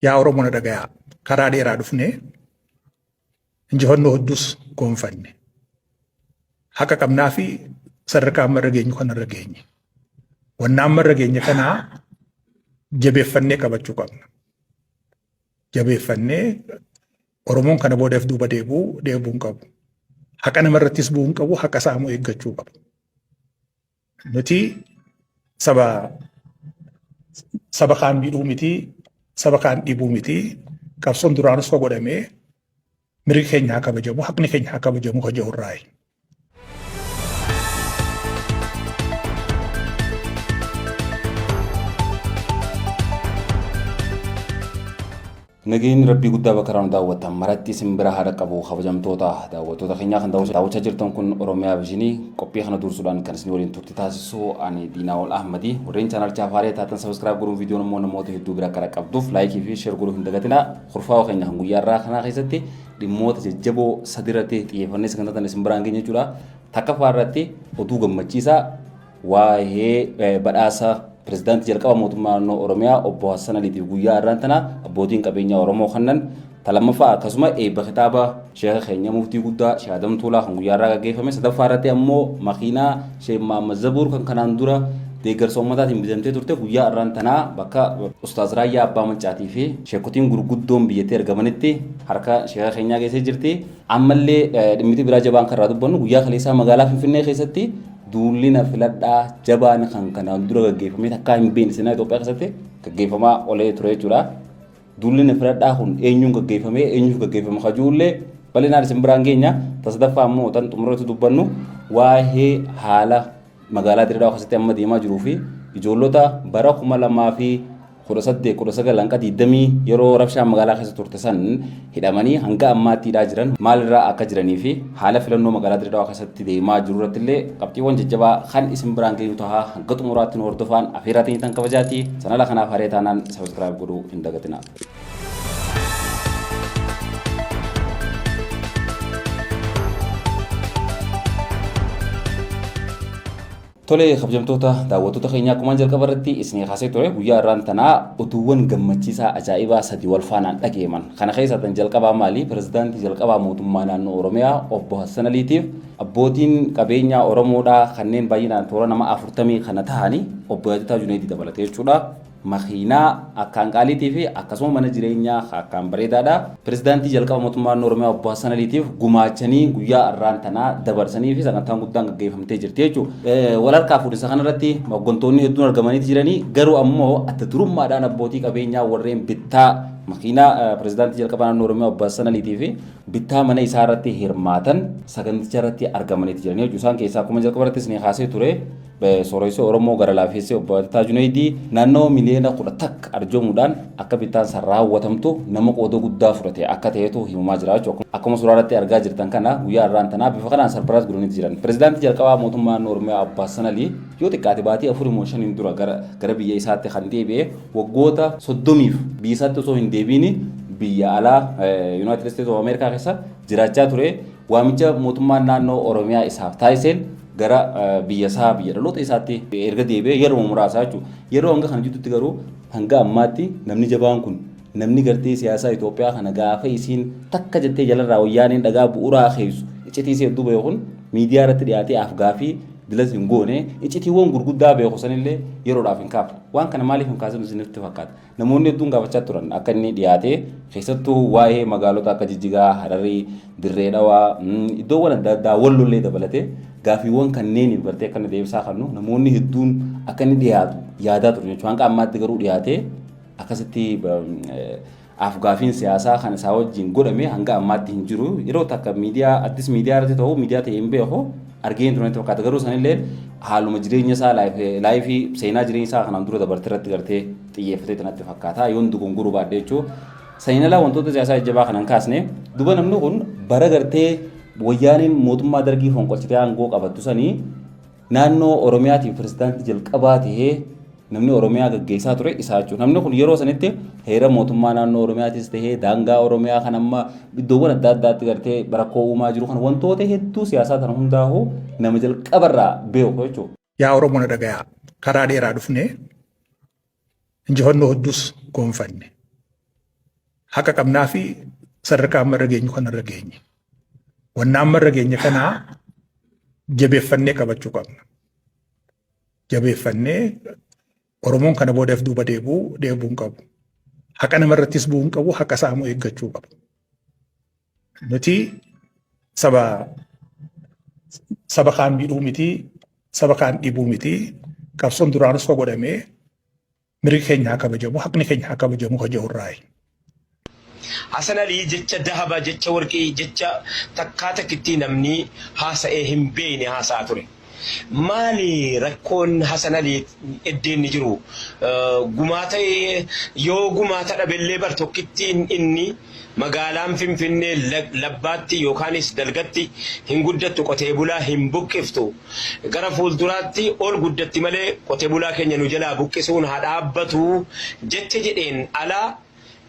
Yaa Oromoo na dhagayaa karaa dheeraa dhufnee injifannoo hedduus goonfanne. Haqa qabnaa fi sadarkaa amma irra geenyu kana irra geenye. Wannaa amma irra geenye kanaa jabeeffannee qabachuu qabna. Jabeeffannee Oromoon kana boodaaf duuba deebuu deebuu hin qabu. Haqa namarrattis bu'uu hin qabu, haqa saamuu eeggachuu qabu. Nuti saba saba kaan miidhuu miti, saba kaan dhiibuu miti. Qabsoon duraanus ka godhame mirgi keenya haa kabajamu, haqni keenya haa kabajamu ka jedhu irraayi. Nageenyi Rabbii guddaa bakka irraa nu daawwattan maratti isin bira haa dhaqqabu kabajamtoota daawwattoota keenyaa kan daawwachaa jirtan kun Oromiyaa Viizhinii qophii kana duursuudhaan kan isin waliin turti taasisu ani Diinaawol Ahmadi warreen chaanaalchaa faaree taatan sabiskiraayib godhuun viidiyoon immoo namoota hedduu bira akka dhaqqabduuf laayikii fi sheer godhuu hin dagatinaa kurfaawa keenya kan guyyaa irraa kanaa keessatti dhimmoota jajjaboo sadi irratti xiyyeeffannee sagantaa isin biraan keenya jechuudha takkaffaa irratti oduu gammachiisaa waa'ee badhaasa pirezidaantii jalqaba mootummaa naannoo Oromiyaa obbo Hassan Aliitiif guyyaa har'aan tana abbootiin qabeenyaa Oromoo kannan talammaffaa akkasuma eebba kitaaba sheeka keenya muftii guddaa Sheekh Adam Tuulaa kan guyyaa har'aa gaggeeffame sadaffaa irratti ammoo makiinaa Sheekh Mahammad Zabuur kan kanaan dura deeggarsa ummataatiin bitamtee turte guyyaa har'aan tanaa bakka Ustaaz Raayyaa Abbaa Maccaatii fi sheekotiin gurguddoon biyyattii argamanitti harka sheeka keenyaa geessee jirti. Ammallee dhimmiti biraa jabaan kan irraa dubbannu guyyaa kaleessaa magaalaa Finfinnee keessatti duulli na filadhaa jabaan kan kanaan dura gaggeeffamee takkaa hin beekne seenaa Itoophiyaa keessatti gaggeeffamaa olee ture jechuudha. Duulli na filadhaa kun eenyuun gaggeeffamee eenyuuf gaggeeffama kajuullee bal'inaan isin biraan geenya. Tasadaffaa immoo tan xumurratti dubbannu waa'ee haala magaalaa Dirree Dhawaa keessatti amma deemaa jiruu fi ijoollota bara 2018 19 hanga 20 yeroo rabshaan magaalaa keessa turte san hidhamanii hanga ammaatti hidhaa jiran maalirraa akka jiranii fi haala filannoo magaalaa Dirree Dhawaa keessatti deemaa jiru irratti illee qabxiiwwan jajjabaa kan isin biraan geenyu tahaa hanga xumuraatti nu hordofaan afeerraa teenyatan kabajaati sanala kanaaf haree taanaan sabiskiraayib godhuu hin dagatinaa. Tolee kabajamtoota daawwattoota keenyaa akkuma jalqaba irratti isinii kaasee ture guyyaa irraan tanaa utuuwwan gammachiisaa ajaa'ibaa sadii wal faanaan dhageeman kana keessaa tan jalqabaa maali pirezidaantii jalqabaa mootummaa naannoo Oromiyaa obbo Hassan Aliitiif abbootiin qabeenyaa Oromoodhaa kanneen baay'inaan toora nama afurtamii kana tahanii obbo Yaajataa Juneedii dabalatee jechuudha. makiinaa akkaan qaaliitii fi akkasuma mana jireenyaa ka akkaan bareedaadha. Pirezidaantii jalqaba mootummaa naannoo Oromiyaa obbo Hassan Aliitiif gumaachanii guyyaa arraan tanaa dabarsanii fi sagantaan guddaan gaggeeffamtee jirti jechuudha. Wal harkaa fuudhinsa kanarratti hoggantoonni hedduun argamaniiti jiranii garuu ammoo adda durummaadhaan abbootii qabeenyaa warreen bittaa makiinaa pirezidaantii jalqaba naannoo Oromiyaa obbo Hassan Aliitii fi bittaa mana isaa irratti hirmaatan saganticha irratti argamaniiti jiranii jechuudha. Isaan keessaa akkuma jalqaba irrattis ni kaasee ture Sooressoo Oromoo gara laafeessee obbo Attataa Juneeydii naannawa miliyoona kudha takka arjoomuudhaan akka bittaan san raawwatamtu nama qooda guddaa fudhate akka ta'etu himamaa jira jechuudha. Akkuma suuraa irratti argaa jirtan kana guyyaa irraan tanaa bifa kanaan sarpiraayis godhaniiti jiran. Pirezidaantii jalqabaa mootummaa naannoo Oromiyaa Abbaas Sanalii yoo xiqqaate baatii afurii moo shaniin dura gara, gara biyya isaatti kan deebi'e waggoota soddomiif biyya isaatti osoo hin deebiini biyya alaa Yuunaayitid Isteetis of Ameerikaa keessa jiraachaa ture waamicha mootummaan naannoo Oromiyaa isaaf taasiseen gara biyya isaa biyya dhaloota isaatti erga deebi'ee yeroo muraasaa jechuudha. Yeroo hanga kana jidduutti garuu hanga ammaatti namni jabaan kun namni gartee siyaasaa Itoophiyaa kana gaafa isiin takka jettee jalarraa wayyaaneen dhagaa bu'uuraa keessu iccitii isee hedduu beeku kun miidiyaa irratti dhiyaatee afgaafii bilas hin goone iccitiiwwan gurguddaa beeku sanillee yeroodhaaf hin kaafne. Waan kana maaliif hin kaasinu isinitti fakkaata? Namoonni hedduun gaafachaa turan akka inni dhiyaatee keessattuu waa'ee magaalota akka Jijjigaa, Hararii, Dirree Dhawaa, iddoowwan adda addaa Wallollee dabalatee gaafiiwwan kanneeniif gartee akka inni deebisaa kannu namoonni hedduun akka inni dhiyaatu yaadaa ture jechuudha. Hanga ammaatti garuu dhiyaatee akkasitti afgaafiin siyaasaa kan isaa wajjin godhame hanga ammaatti hin jiru. Yeroo takka miidiyaa addis miidiyaa irratti ta'u miidiyaa ta'e hin beeku. argee hin turre natti fakkaata garuu sanillee haaluma jireenya isaa laayifii seenaa jireenya isaa kanaan dura dabarte irratti gartee xiyyeeffatee natti fakkaata yoon dogongoruu baadhee jechuun saniin alaa wantoota siyaasaa jajjabaa kanan kaasne duba namni kun bara gartee wayyaaniin mootummaa dargii fonqolchitee aangoo qabattu sanii naannoo oromiyaatiin pirezidaantii jalqabaa tahee Namni Oromiyaa gaggeessaa ture isaa jechuudha. Namni kun yeroo sanitti heera mootummaa naannoo Oromiyaatis ta'ee daangaa Oromiyaa kan amma iddoowwan adda addaatti gartee rakkoo uumaa jiru kan wantoota hedduu siyaasaa kana hundaa'u nama jalqabarraa beeku jechuudha. Yaa Oromoo na dhagayaa karaa dheeraa dhufnee injifannoo hedduus goonfanne. Haqa qabnaa fi sadarkaa amma irra geenyu kana irra geenye. Wanna amma irra geenye kanaa jabeeffannee qabachuu qabna. jabeeffannee Oromoon kana booda if duuba deebuu deebuu hin qabu. Haqa namarrattis bu'uu hin qabu, haqa isaa immoo eeggachuu qaba. Nuti saba saba kaan miidhuu miti, saba kaan dhibuu miti. Qabsoon duraanus ka godhamee mirgi keenya haa kabajamu, haqni keenya haa kabajamu ka jedhu irraayi. Hasan Alii jecha dahaba, jecha warqii, jecha takkaa takkittii namni haasa'ee hin beeyne haasa'aa ture. Maali rakkoon Hasan Alii eddee inni jiru? Gumaata yoo gumaata dhabellee bar tokkittiin inni Magaalaan Finfinnee labbaatti yookaanis dalgatti hin guddattu qotee bulaa hin buqqiftu. Gara fuulduraatti ol guddatti malee qote bulaa keenya nu jalaa buqqisuun haa dhaabbatu jecha jedheen ala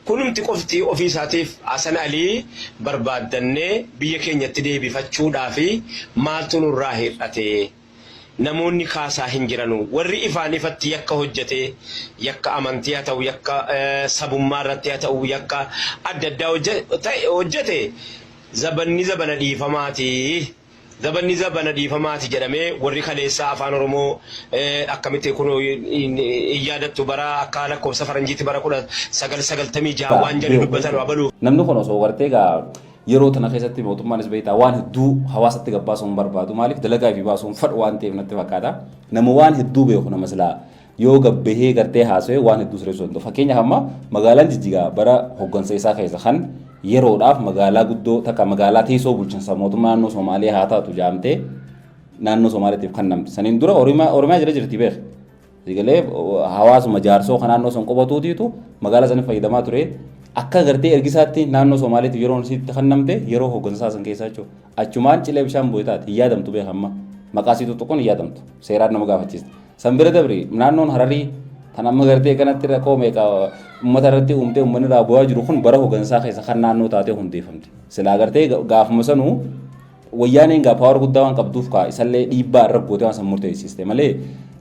kunumti qofti ofii isaatiif Hasan Alii barbaaddannee biyya keenyatti deebifachuudhaafi maaltu nurraa hir'ate? Namoonni kaasaa hin jiranu. Warri ifaan ifatti yakka hojjatee, yakka amantii haa ta'u, yakka sabummaa irratti haa ta'u, yakka adda addaa hojjate zabanni zabana dhiifamaati, zabanni zabana dhiifamaati jedhamee warri kaleessaa Afaan Oromoo akkamitti kun hin yaadattu bara akka lakkoofsa faranjiitti bara 1996 waan jedhu dubbatan abaluu. Namni kun osoo gartee gaa Yeroo tana keessatti mootummaanis beektaa waan hedduu hawaasatti gabbaasuu hin barbaadu. Maaliif dalagaa fi baasuu hin fadhu waan ta'eef natti fakkaata. Nama waan hedduu beeku nama silaa yoo gabbahee gartee haasawee waan hedduu sirreessuu danda'u. Fakkeenyaaf amma magaalaan jijjigaa bara hoggansa isaa keessa kan yeroodhaaf magaalaa guddoo takka magaalaa teessoo bulchiinsa mootummaa naannoo Somaaliyaa haa taatu jaamtee naannoo Somaaliyaatiif kannamte. Saniin dura Oromiyaa jala jirti beeku. Sigalee hawaasuma jaarsoo kan naannoo san qubatuutiitu magaalaa saniif fayyadamaa ture. Akka agartee ergisaatti naannoo Somaaleetti yeroon isiitti kannamte yeroo hooggansaa san keessaa jechuudha. Achumaan cilee bishaan bu'e taate hin yaadamtu beeka amma. Maqaa isii tuttuquun hin yaadamtu. Seeraan nama gaafachiista. San bira dabri naannoon Hararii kan amma gartee kanatti rakkoo meeqa uummata irratti uumtee uummanni irraa bu'aa jiru kun bara hooggansaa keessa kan naannoo taatee hundeeffamte. Silaa gartee gaafuma sanuu Wayyaaneen egaa power guddaa waan qabduuf kaa isallee dhiibbaa irra gootee waan san murteessiste malee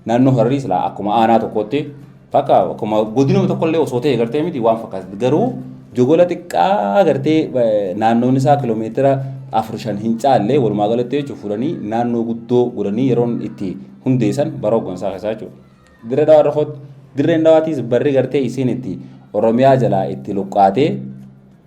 naannoo Hararii silaa akkuma aanaa tokkootti bakka akkuma godinuma tokkollee osoo ta'e gartee miti waan fakkaatu garuu jogola xiqqaa gartee naannoon isaa kiloomeetira afur shan hin caallee walumaa galatti jechuun fudhanii naannoo guddoo godhanii yeroon itti hundeessan bara hooggansaa keessaa jechuudha. Dirree dhawaa irra kootti dirreen dhawaatiis barri gartee isiin itti Oromiyaa jalaa itti luqqaatee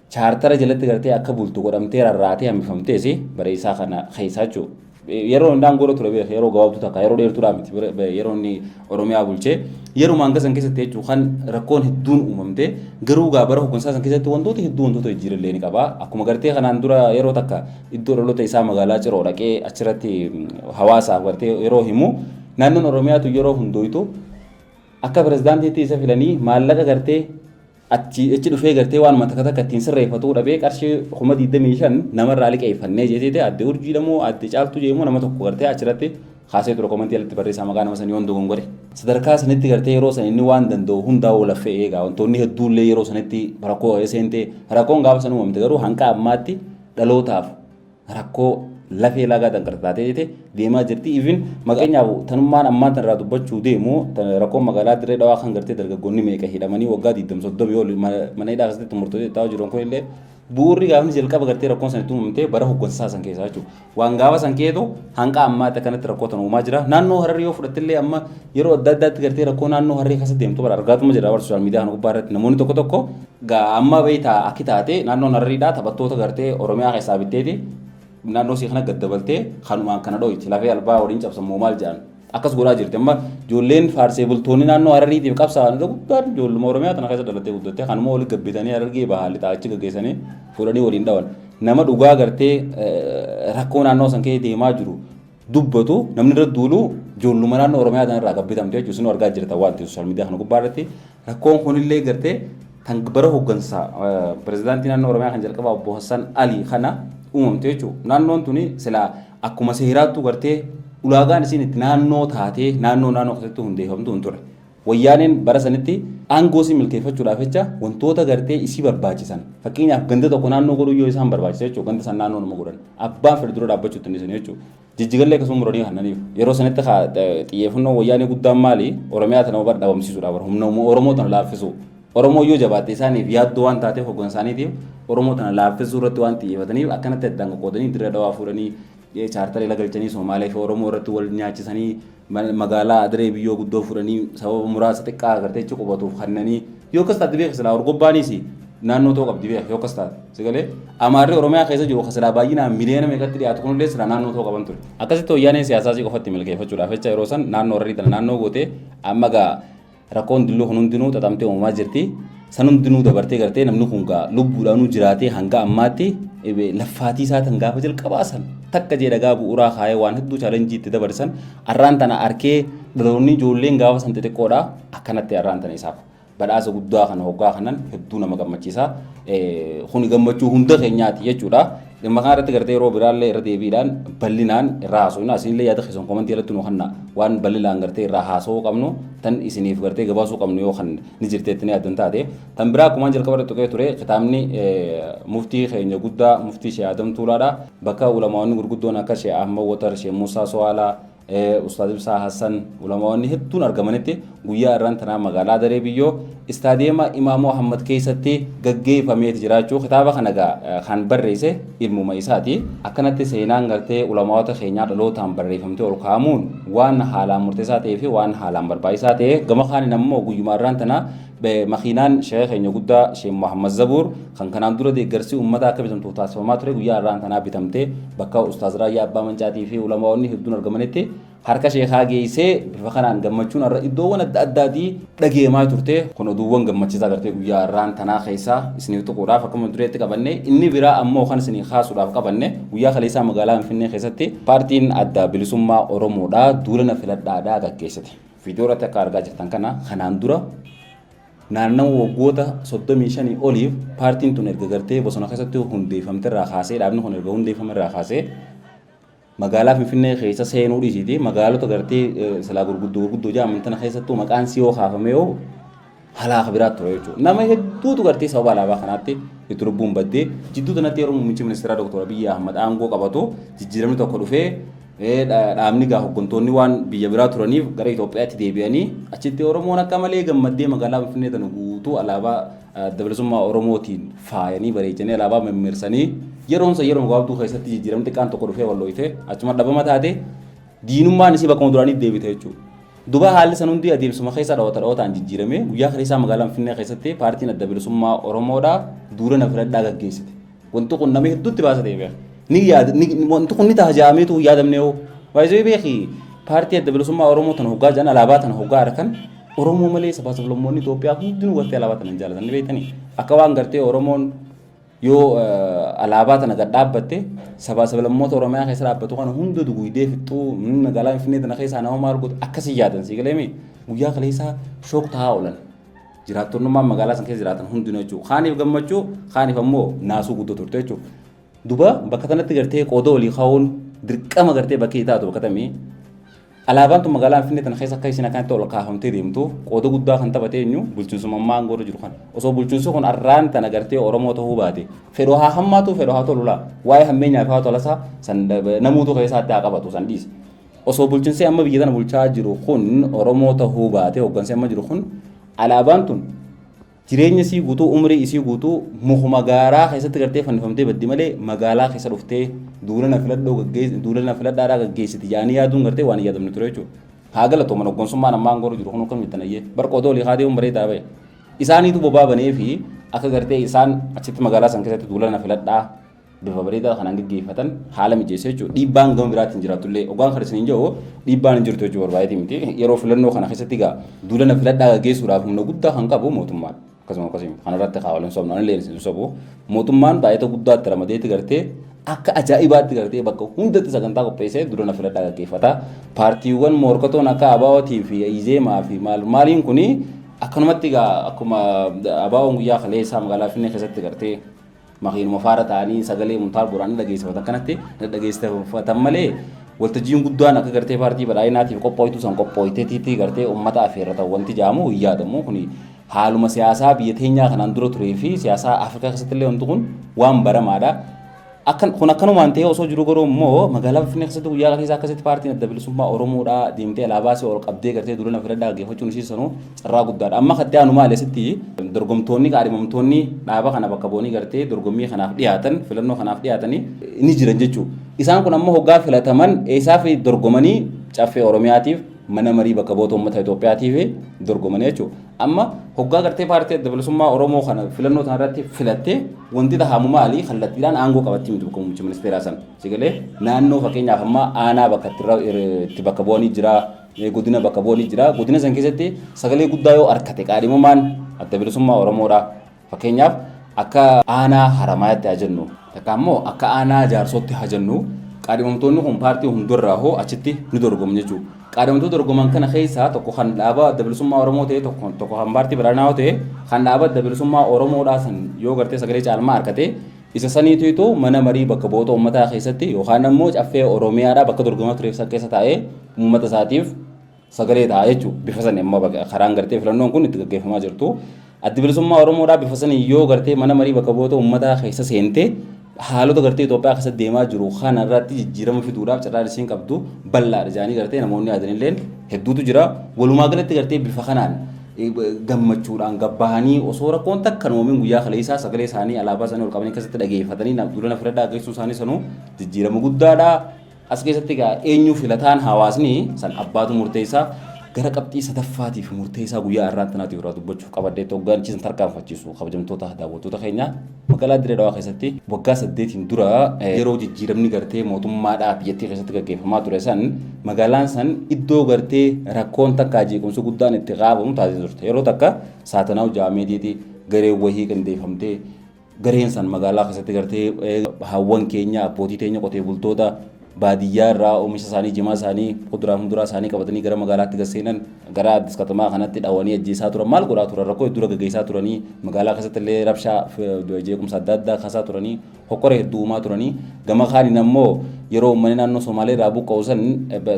chaartara jalatti gartee akka bultu godhamtee rarraatee hambifamtees bareessaa kana keessaa jechuudha. Yeroo inni aangoorra ture beeku yeroo gabaabduu takka yeroo dheertuudhaa miti Bara- ba- yeroo inni Oromiyaa bulchee yeruma hanga san keessatti jechuudha kan rakkoon hedduun uumamte garuu gaa bara hoggansaa san keessatti wantoota hedduu wantoota jijjiirallee ni qaba akkuma gartee kanaan dura yeroo takka iddoo dhaloota isaa magaalaa Ciroo dhaqee achirratti mm, hawaasaaf gartee yeroo himu naannoon Oromiyaatu yeroo hundooytu akka pirezidaantiitti isa filanii maallaqa gartee Achi achi dhufee gartee waanuma takka takka ittiin sirreeffatuu dhabee qarshii kuma 25 namarraa liqeeffannee jeeteete adde urjiidha moo adde caaltuu jeemoo nama tokko gartee achirratti kaasee ture komantii alatti barreessaa maqaa nama sanii yoon dogongore. Sadarkaa sanitti gartee yeroo san inni waan danda'u hundaa walaffee eegaa wantoonni hedduullee yeroo sanitti rakkoo seentee rakkoon gaafa san uumamte garuu hanqa ammaatti dhalootaaf rakkoo lafee lagaa danqarte taatee jete deemaa jirti. Even fakkeenyaaf tanummaan ammaan tanarraa dubbachuu deemu rakkoo magaalaa dirree dhawaa kan gartee dargaggoonni meeqa hidhamanii waggaa 23 ol mana hidhaa keessatti murtootee ta'aa jiran kun illee bu'uurri gaafni jalqaba gartee rakkoon san itti uumamtee bara hoggansaa san keessaa jechuudha. Waan gaafa san keetu hanqa ammaatti kanatti rakkoo tan uumaa jira. Naannoo hararri yoo fudhattillee amma yeroo adda addaatti gartee rakkoo naannoo hararri keessa deemtu bara argaatuma jira bara sooshaal miidiyaa kana gubbaa irratti namoonni tokko tokko Gaa amma beektaa akki taate naannoon Harariidhaa taphattoota gartee Oromiyaa keessaa bitteeti naannoo isii kana gaddabaltee kanumaan kana dhooyti lafee albaa waliin cabsan moo maal jedhan akkas godhaa jirti amma ijoolleen faarsee bultoonni naannoo Harariitiif qabsaa'an irra guddaan ijoolluma Oromiyaa tana keessa dhalattee guddattee kanuma waliin gabbitanii Harargee bahaa lixaa achi gaggeessanii fuudhanii waliin dhawan nama dhugaa gartee rakkoo naannoo san kee deemaa jiru dubbatu namni irra duulu ijoolluma naannoo Oromiyaa tana irraa kan bitamte jechuudha. Isinuu argaa jirtan waan ta'eef sooshaal miidiyaa kana gubbaa irratti rakkoon kunillee gartee tan bara hooggansa pirezidaantii naannoo Oromiyaa kan jalqabaa obbo Hassan Ali kana uumamte jechuudha. Naannoon tuni silaa akkuma seeraattuu gartee ulaagaan isiin itti naannoo taatee naannoo naannoo keessatti hundeeffamtu hin ture. Wayyaaneen bara sanitti aangoo isii milkeeffachuudhaaf jecha wantoota gartee isii barbaachisan fakkeenyaaf ganda tokko naannoo godhuun yoo isaan barbaachise jechuudha ganda san naannoo nama godhan abbaan fedhe dura dhaabbachuutti hin dhisani jechuudha. Jijjigallee akkasuma muranii kannaniif yeroo sanitti xiyyeeffannoo wayyaanee guddaan maali Oromiyaa tana bar dhabamsiisuudha bar humna Oromoo tana laaffisuu Oromoo yoo jabaatte isaaniif yaaddoo waan taateef hoggansa isaaniitiif Oromoo tana laaffisuu irratti waan xiyyeeffataniif akkanatti addaan qoqqoodanii dirree dhawaa fuudhanii Chaartarii ala galchanii Soomaalee fi Oromoo irratti wal nyaachisanii magaalaa Adiree biyyoo guddoo fudhanii sababa muraasa xiqqaa agartee achi qubatuuf kannanii yoo akkas taate beekas silaa Orgobbaaniis naannoo ta'uu qabdi beekas yoo akkas taate sigalee Amaarri Oromiyaa keessa jiru silaa baay'inaan miliyoona meeqatti dhiyaatu kunillee silaa naannoo ta'uu qaban ture. Akkasitti wayyaaneen siyaasaa isii qofatti milkeeffachuudhaaf jecha yeroo san naannoo Hararii tana naannoo gootee amma gaa Rakkoon dilloo kun hundinuu xaxamtee uumamaa jirti. San hundinuu dabartee gartee namni kun gaa lubbuudhaanuu jiraatee hanga ammaatti laffaatii isaa tan gaafa jalqabaa san takka jee dhagaa bu'uuraa kaayee waan hedduu chaalenjii itti dabarsan arraan tana arkee dhaloonni ijoolleen gaafa san xixiqqoodha akkanatti arraan tana isaaf badhaasa guddaa kana hoggaa kanan hedduu nama gammachiisa. Kuni gammachuu hunda keenyaati jechuudha. Dhimma kana irratti gartee yeroo biraallee irra deebiidhaan bal'inaan irraa haasofna. Isinillee yaada keessan komantii irratti nu kennaa. Waan bal'inaan gartee irraa haasawuu qabnu tan isiniif gartee gabaasuu qabnu yoo kan ni jirteetti ni yaaddan taate. Tan biraa akkumaan jalqaba irratti tuqee ture kitaabni muftii keenya guddaa muftii Shee Adam Tuulaadha. Bakka ulamaawwanni gurguddoon akka Shee Ahmad Watar, Shee Muusaa Sowaalaa, Ustaaz Ibsaa Hassan ulamaa'onni hedduun argamanitti guyyaa irraan tanaa magaalaa Daree Biyyoo istaadiyeema Imaamoo Ahmad keessatti gaggeeffameeti jiraachuu kitaaba kana gaa kan barreesse ilmuma isaati. Akkanatti seenaan gartee ulamaa'ota keenyaa dhalootaan barreeffamtee ol kaa'amuun waan haalaan murteessaa ta'ee fi waan haalaan barbaachisaa ta'e gama kaaniin ammoo guyyuma irraan tanaa Makiinaan sheeka keenya guddaa Sheek Muhammad Zabuur kan kanaan dura deeggarsi uummataa akka bitamtuuf taasifamaa ture guyyaa har'aan tanaa bitamtee bakka Ustaaz Raayyaa Abbaa Mancaatii fi ulamaa'onni hedduun argamanitti harka sheekaa geessee bifa kanaan gammachuun har'a iddoowwan adda addaatii dhageemaa turte kun oduuwwan gammachiisaa gartee guyyaa har'aan tanaa keessaa isiniif tuquudhaaf akkuma dureetti qabanne inni biraa ammoo kan isinii kaasuudhaaf qabanne guyyaa kaleessaa magaalaa Finfinnee keessatti paartiin adda bilisummaa Oromoodhaa duulana filadhaadhaa gaggeessite. Viidiyoo irratti akka argaa jirtan kana kanaan dura naannawa waggoota 35 oliif paartiin tun erga gartee bosona keessatti hundeeffamte irraa kaasee dhaabni kun erga hundeeffame irraa kaasee magaalaa Finfinnee keessa seenuu dhiisiiti magaalota gartee silaa gurguddoo gurguddoo jedhaman tana keessattuu maqaan siyoo kaafamee yoo halaaka biraatti ture jechuudha. Nama hedduutu gartee sababa alaabaa kanaatti itti lubbuun baddee jidduu kanatti yeroo muummichi ministeeraa Dr. Abiyyi Ahmad aangoo qabatu jijjiiramni tokko dhufee dhaabni gaa hoggantoonni waan biyya biraa turaniif gara Itoophiyaatti deebi'anii achitti Oromoon akka malee gammaddee magaalaa Finfinnee tana guutuu alaabaa adda bilisummaa Oromootiin faayanii bareechanii alaabaa mimmirsanii yeroonsa yeroo gabaabduu keessatti jijjiiramni xiqqaan tokko dhufee wal looyitee achuma dhabama taate diinummaan isii bakkuma duraanii deebite jechuudha. Duba haalli san hundi adeemsuma keessa dhawata dhawataan jijjiiramee guyyaa kaleessaa magaalaa Finfinnee keessatti paartiin adda bilisummaa Oromoodhaa duula na filadhaa gaggeessite. Wanti kun nama hedduutti baasa ta'e beeka. Ni yaada wanti kun ni taha ja'ameetu hin yaadamne hoo. Baay'isee beeki paartii adda bilisummaa Oromoo tana hoggaa jedhan alaabaa tana hoggaa arkan Oromoo malee sabaa sablammoonni Itoophiyaa hundinuu gartee alaabaa tana hin jaalatan ni beektanii. Akka waan gartee Oromoon Yoo alaabaa tana gad dhaabbatte sabaa sablammoota Oromiyaa keessa dhaabbatu kana hunda duguydee fixxuu magaalaa Finfinnee tana keessaa nama maal gootu akkasii yaadan sii galee miti. Guyyaa kaleessaa shook tahaa oolan. Jiraattonnummaan magaalaa san keessa jiraatan hundinuu jechuudha. Kaaniif gammachuu kaaniif ammoo naasuu guddoo turte jechuudha. Duba bakka tanatti gartee qooda olii kaa'uun dirqama gartee bakkee taatu bakka tamii Alaabaan tun magaalaa Finfinnee tana keessa akka isiin akkanatti ol kaafamtee deemtuuf qooda guddaa kan taphate eenyu bulchiinsuma ammaa aangoo irra jiru kana. Osoo bulchiinsi kun arraan tana gartee Oromoo ta'uu baate fedhoo haa hammaatuu fedhoo haa tolu laa waa'ee hammeenyaa fi haa tolasaa san namuutu keessaatti haa qabatu san dhiise. Osoo bulchiinsi amma biyya tana bulchaa jiru kun Oromoo ta'uu baate hooggansi amma jiru kun alaabaan tun Jireenya isii guutuu, umrii isii guutuu mukuma gaaraa keessatti gartee fannifamtee baddi malee magaalaa keessa dhuftee duulana filadhoo gaggeessi, duulana filadhaadhaa gaggeessiti jedhanii yaaduun gartee waan hin yaadamne ture jechuudha. Haa galatooman hoggansummaan ammaa aangoo irra jiru kun akkam mittanayyee bar qoodoo olii haa deemuun bareedaa bahe. Isaaniitu bobaa banee fi akka gartee isaan achitti magaalaa san keessatti duulana filadhaa bifa bareedaa kanaan gaggeeffatan haala mijeessa jechuudha. Dhiibbaan gama biraatiin jiraatu illee ogaan kan isiniin jedhu dhiibbaan hin jirtu jechuu barbaadee miti. Yeroo filannoo kana keessatti egaa duulana filadhaa gaggeessuudhaaf humna guddaa kan qabu mootummaadha. Akkasuma akkasuma kanarratti kaawwalan sobna illee hin sobu. Mootummaan baay'ata guddaatti ramadeetti gartee akka ajaa'ibaatti gartee bakka hundatti sagantaa qopheessee duulana filadhaa gaggeeffata. Paartiiwwan morkatoon akka Abaawootii fi Izeemaa fi maal maaliin kuni akkanumatti egaa akkuma Abaawoon guyyaa kaleessaa magaalaa Finfinnee keessatti gartee Makiinuma faara ta'anii sagalee Muntaar Booraan dhageessifatan kanatti dhageessifatan malee waltajjiin guddaan akka gartee paartii badhaadhinaatiif qophooytu san qophooyteetiitti gartee uummata affeerratan wanti jaamu hin yaadamu kuni haaluma siyaasaa biyya teenyaa kanaan dura turee fi siyaasaa Afrikaa keessatti illee wanti kun waan baramaadha. Akkan kun akkanumaan ta'ee osoo jiru garuu immoo magaalaa Finfinnee keessatti guyyaa keessaa akkasitti paartiin adda bilisummaa Oromoodhaa deemtee alaabaa si ol qabdee gartee duula na filadhaa gaggeeffachuun isii sanuu carraa guddaadha. Amma katti aanu maali asitti dorgomtoonni qaadhimamtoonni dhaaba kana bakka bu'anii gartee dorgommii kanaaf dhiyaatan filannoo kanaaf dhiyaatanii ni jiran jechuudha. Isaan kun amma hoggaa filataman eessaa fi dorgomanii caffee Oromiyaatiif mana marii bakka bu'oota uummata Itoophiyaatiif dorgomanii jechuudha. Amma hoggaa gartee paartii adda bilisummaa Oromoo kana filannoo sana irratti filattee wanti tahamu maali kallattiidhaan aangoo qabatti miti bakka muummicha ministeeraa sana. Sigalee naannoo fakkeenyaaf amma aanaa bakka itti bakka bu'anii jira godina bakka bu'anii jira. Godina san keessatti sagalee guddaa yoo argate qaadhimamaan adda bilisummaa Oromoodha. Fakkeenyaaf akka aanaa Haramaayaatti haa jennu takka ammoo akka aanaa Jaarsootti haa jennu qaadhimamtoonni kun paartii hundarraa hoo achitti ni dorgomu jechuudha. Qaadhimamtoota dorgoman kana keessaa tokko kan dhaaba adda bilisummaa Oromoo ta'e tokko tokko kan paartii badhaadhinaa yoo ta'e kan dhaaba adda bilisummaa Oromoodhaa san yoo gartee sagalee caalmaa argate Isa saniitu itu mana marii bakka bu'oota uummataa keessatti yookaan ammoo caffee Oromiyaadhaa bakka dorgomaa tureef san keessa taa'ee uummata isaatiif sagalee ta'a jechuudha. Bifa sani amma baga- karaan gartee filannoon kun itti gaggeeffamaa jirtu. Addi bilisummaa Oromoodhaa bifa saniin yoo gartee mana marii bakka bu'oota uummataa keessa seente haalota gartee Itoophiyaa keessatti deemaa jiru kana irratti jijjiirama fiduudhaaf carraan isiin qabdu bal'aadha jedhanii gartee namoonni yaadanilleen hedduutu jira. Walumaa galatti gartee bifa kanaan gammachuudhaan gad bahanii osoo rakkoon takka hin uumin guyyaa kaleessaa sagalee isaanii alaabaa isaanii ol qabanii keessatti dhageeffatanii na- duula na filadhaa geessuu isaanii sanuu jijjiirama guddaadha. As keessatti egaa eenyu filataan hawaasni san abbaatu murteessaa gara qabxii sadaffaatiif murteessaa guyyaa irraa tanaatiif irraa dubbachuuf qabaddeetti hoggaanchi san tarkaanfachiisu kabajamtoota daawwattoota keenyaa. Magaalaa Dirree Dhawaa keessatti waggaa saddeetiin dura yeroo jijjiiramni gartee mootummaadhaa biyyattii keessatti gaggeeffamaa ture san magaalaan san iddoo gartee rakkoon takkaa jeequmsi guddaan itti qaabamu taatee turte. Yeroo takka saatanaa'u jaamediiti garee wahii qindeeffamtee gareen san magaalaa keessatti gartee haawwan keenya abbootii teenya qotee bultoota baadiyyaa irraa oomisha isaanii jimaa isaanii kuduraa fuduraa isaanii qabatanii gara magaalaatti gad seenan gara addis katamaa kanatti dhawanii ajjeesaa turan maal godhaa turan rakkoo hedduu gaggeessaa turanii magaalaa keessatti illee rabshaa jeequmsa adda addaa kaasaa turanii hokkora hedduu uumaa turanii gama kaaniin ammoo yeroo uummanni naannoo Somaalee irraa buqqa'u san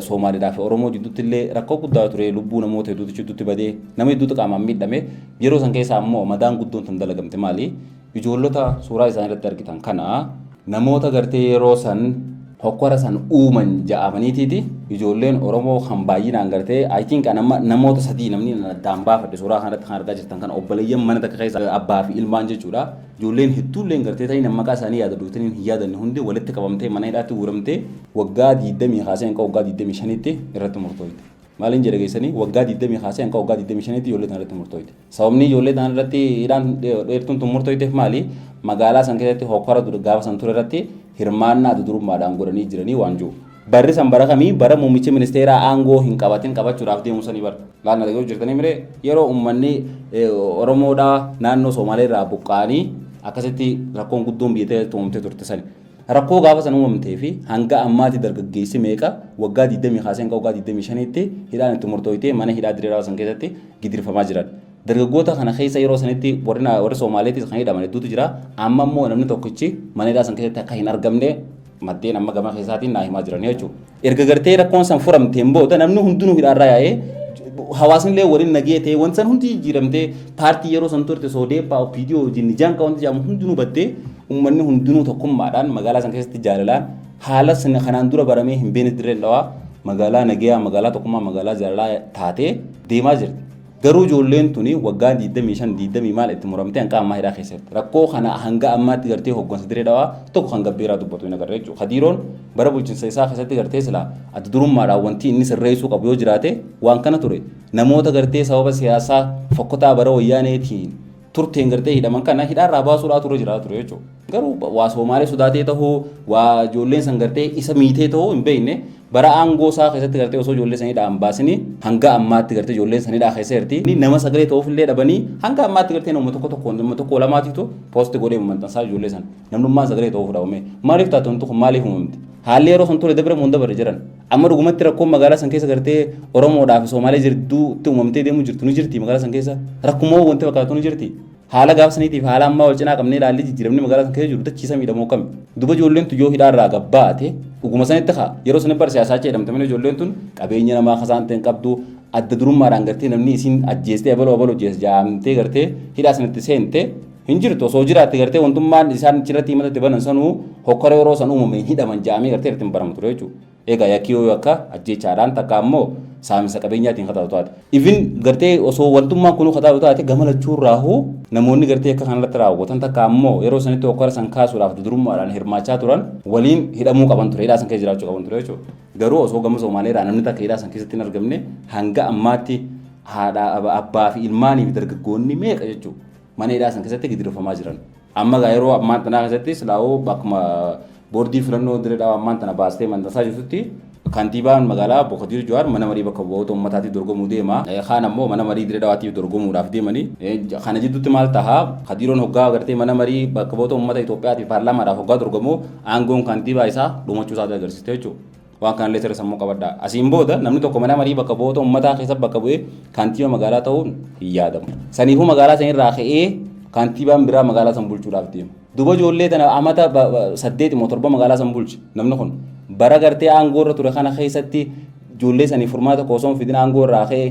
Somaaliidhaa fi Oromoo jidduutti illee rakkoo guddaa ture lubbuu namoota hedduutu jidduutti badee nama hedduutu qaamaan miidhame yeroo san keessa ammoo madaan guddoon tan dalagamte maali Ijoollota suuraa isaanii irratti argitan kana namoota gartee yeroo san hokkora san uuman ja'amaniitiiti ijoolleen Oromoo kan baay'inaan gartee I think an amma namoota sadii namni nan addaan baafadhe suuraa kanarratti kan argaa jirtan kana obboleeyyan mana takka keessa abbaa fi ilmaan jechuudha. Ijoolleen hedduulleen gartee ta'in maqaa isaanii yaada duutaniin hin yaadanne hundi walitti qabamtee mana hidhaatti guuramtee waggaa 20 kaasee hanga waggaa 25tti irratti murtooyte. Maaliin jedha geessanii waggaa 20 kaasee hanga waggaa 25tti ijoollee tana irratti murtooyte. Sababni ijoollee tana irratti hidhaan dheertuun tun murtoofteef maali? Magaalaa san keessatti hokkara gaafa san ture irratti hirmaannaa adda durummaadhaan godhanii jiranii waan jiru. Barri san bara kamii bara muummichi ministeeraa aangoo hin qabatin qabachuudhaaf deemu sanii bar. Maal na dhaga'uu jirtanii miree yeroo uummanni Oromoodhaa naannoo Soomalee irraa buqqa'anii akkasitti rakkoon guddoon biyya ta'e tuumamtee turte sani. Rakkoo gaafa san uumamtee fi hanga ammaati dargaggeessi meeqa waggaa 20 kaasee hanga waggaa 25tti hidhaan itti murtooytee mana hidhaa Dirree Dhawaa san keessatti gidirfamaa jiran. Dargaggoota kana keessa yeroo sanitti warri na- warri Soomaaleetis kan hidhaman hedduutu jira. Amma immoo namni tokkichi mana hidhaa san keessatti akka hin argamne maddeen amma gama keessaatiin naa himaa jiran jechuudha. Erga gartee rakkoon san furamteen booda namni hundinuu hidhaarraa yaa'ee hawaasnillee waliin nagee ta'ee wanti san hundi jijjiiramtee paartii yeroo san turte soodeeppaa opiidiyoo wajjin nijaan qabantu jedhamu hundinuu baddee uummanni hundinuu tokkummaadhaan magaalaa san keessatti jaalalaan haala sana kanaan dura baramee hin beekne dirreen dhawaa magaalaa nagayaa magaalaa tokkummaa magaalaa jaalalaa taatee deemaa jirti. Garuu ijoolleen tuni waggaa 25, 20 maal itti muramtee hanqa ammaa hidhaa keessa jirti. Rakkoo kana hanga ammaatti gartee hooggansa Diree Dhawaa tokko kan gabbeeraa dubbatu hin agarre jechuudha. Kadiiroon bara bulchinsa isaa keessatti gartee silaa adda durummaadhaan wanti inni sirreessuu qabu yoo jiraate waan kana ture. Namoota gartee sababa siyaasaa fokkotaa bara wayyaaneetiin turteen gartee hidhaman kana hidhaarraa baasuudhaa turre jiraa ture jechuudha. Garuu waa Soomaalee sodaatee tahuu waa ijoolleen san gartee isa miitee tahuu hin beekne bara aangoo isaa keessatti gartee osoo ijoollee san hidhaa hin baasini hanga ammaatti gartee ijoolleen san hidhaa keessa jirti. Inni nama sagalee ta'uuf illee dhabanii hanga ammaatti gartee nama tokko tokko nama tokko lamaatiitu poosti godhee maxxansaa ijoollee san namnummaan sagalee ta'uuf dhabame maaliif taatu wanti kun maaliif uumamte haalli yeroo san ture dabre moo hin dabarre jiran Amma dhugumatti rakkoon magaalaa san keessa gartee Oromoodhaa fi Soomaalee jirduutti uumamtee deemuu jirtu ni jirti magaalaa san keessa rakkumoo wanti fakkaatu ni jirti. Haala gaaf saniitiif haala ammaa wal cinaa qabnee ilaallee jijjiiramni magaalaa san keessa jiru dachii samiidha moo kami? Duba ijoolleen tun yoo hidhaa irraa gabbaate dhuguma sanitti kaa yeroo sanitti bar siyaasaacha jedhamte malee ijoolleen tun qabeenya namaa kasaan ta'e hin qabdu adda durummaadhaan gartee namni isiin ajjeestee abaloo abaloo jees jaamtee gartee hidhaa sanitti seente hin jirtu osoo jiraatte gartee wantummaan isaan achirratti himata itti banan sanuu hokkara yeroo san uumame hin hidhaman ja'amee gartee irratti hin baramu ture jechuudha. Egaa yakki yoo akka ajjeechaadhaan takka ammoo saaminsa qabeenyaatiin kataatu taate. Ifin gartee osoo wantummaan kunuu kataatu taate gama lachuun raahuu namoonni gartee akka kanarratti raawwatan takka ammoo yeroo sanitti hokkara san kaasuudhaaf dudurummaadhaan hirmaachaa turan waliin hidhamuu qaban ture hidhaa san keessa jiraachuu qaban ture jechuudha. Garuu osoo gama Somaaleedhaa namni takka hidhaa san keessatti hin argamne hanga ammaatti haadha abbaa fi ilmaanii fi dargaggoonni meeqa jechuudha. mana hidhaa san keessatti gidirofamaa jiran. Amma egaa yeroo ammaan tanaa keessatti silaa'uu akkuma boordii filannoo Dirree Dhawaa ammaan tana baastee mandasaa jirtutti kantiibaan magaalaa Obbo Kadiir Jawaar mana marii bakka bu'oota uummataatiif dorgomuu deema. Kaan ammoo mana marii Dirree Dhawaatiif dorgomuudhaaf deemanii. Kana jidduutti maal taha? Kadiiroon hoggaa agartee mana marii bakka bu'oota uummata Itoophiyaatiif paarlaamaadhaaf hoggaa dorgomu aangoon kantiibaa isaa dhumachuu isaatii agarsiiste jechuudha. Waan kanallee sirra sammuu qabadhaa. Asiin booda namni tokko mana marii bakka bu'oota uummataa keessa bakka bu'ee kantiiba magaalaa ta'uun hin yaadamu. Saniifuu magaalaa san irraa ka'ee kantiibaan biraa magaalaa san bulchuudhaaf deema. Duba ijoollee tana amata saddeet immoo torba magaalaa san bulche namni kun bara gartee aangoo irra ture kana keessatti ijoollee sanii furmaata osoo hin fidin aangoo irraa ka'ee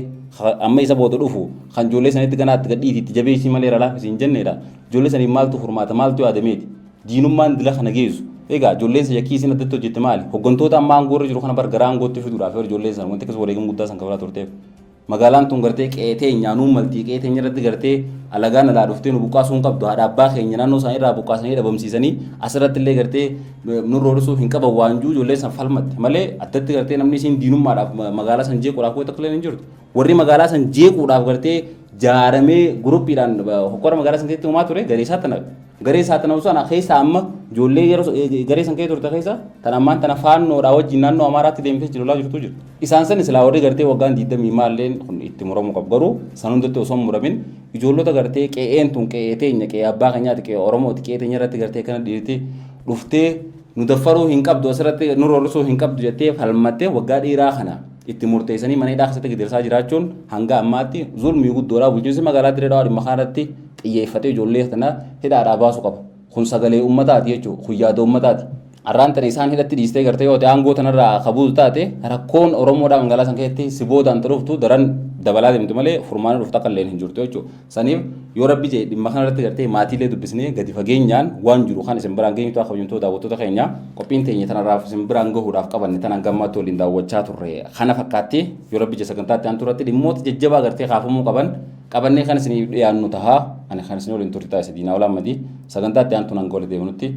amma isa booda dhufu kan ijoollee sanitti ganaatti gadhiiti itti jabeessii malee irra laaffisiin jenneedha. Ijoollee saniif maaltu furmaata maaltu yaadameeti. Diinummaan dila kana geessu. Egaa ijoolleen san yakkii isiin addatti hojjette maali? Hoggantoota amma aangoo irra jiru kana bar gara aangootti fiduudhaaf bar ijoolleen san wanti akkas wareegama guddaa san kafalaa turteef. Magaalaan tun gartee qe'ee teenyaa nuun maltii qe'ee teenya irratti gartee alagaan alaa dhuftee nu buqqaasuu hin qabdu haadha abbaa keenya naannoo isaanii irraa buqqaasanii dhabamsiisanii asirratti illee gartee nurra hodhisuuf hin qaban waanjuu ijoolleen san falmatte malee addatti gartee namni isiin diinummaadhaaf magaalaa san jeequudhaaf wayita akka hin jirtu Warri magaalaa san jeequudhaaf gartee jaaramee guruppiidhaan hokkora magaalaa san keessatti uumaa ture garee saaxanawe. Garee saaxanawu sana keessa amma ijoollee yeroo garee san keessa turte keessa tan ammaan tana faannoodhaa wajjin naannoo Amaaraatti deemtee jiru laa jirtu jiru. Isaan san silaa warri gartee waggaan 20 maalleen kun itti muramuu qabu garuu san hundatti osoo hin muramin ijoollota gartee qe'een tun qe'ee teenya qe'ee abbaa keenyaati qe'ee Oromooti qe'ee teenya irratti gartee kana dhiirti dhuftee nu daffaruu hin qabdu asirratti nu roorrisuu hin qabdu jettee falmattee waggaa dheeraa kana itti murteessanii mana hidhaa keessatti gidirsaa jiraachuun hanga ammaatti zulmii guddoodhaa bulchiinsi magaalaa Dirree Dhawaa dhimma kanarratti xiyyeeffatee ijoollee kana hidhaadhaa baasu qaba. Kun sagalee uummataati jechuudha. Kun yaada uummataati. Har'aan tana isaan hidhatti dhiistee gartee yoo ta'e aangoo tanarraa kabuutu taate rakkoon Oromoodhaa magaalaa san keessatti si boodaan dhuftu daran dabalaa deemti malee furmaana dhuftu akka illee hin jirtu jechuudha. Saniif yoo rabbi jedhe dhimma kana irratti gartee maatiilee dubbisnee gadi fageenyaan waan jiru kan isin biraan geenyu ta'a kabajamtoota daawwattoota keenya qophiin teenya tanarraaf isin biraan gahuudhaaf qabanne tanan gammaatti waliin daawwachaa turre kana fakkaatti yoo rabbi jedhe sagantaatti aantu irratti dhimmoota jajjabaa gartee kaafamuu qaban qabannee kan isiniif dhiyaannu taha ani kan isin waliin turte ta'a isa diinaa olaa madii sagantaatti aantu nan goole deebinutti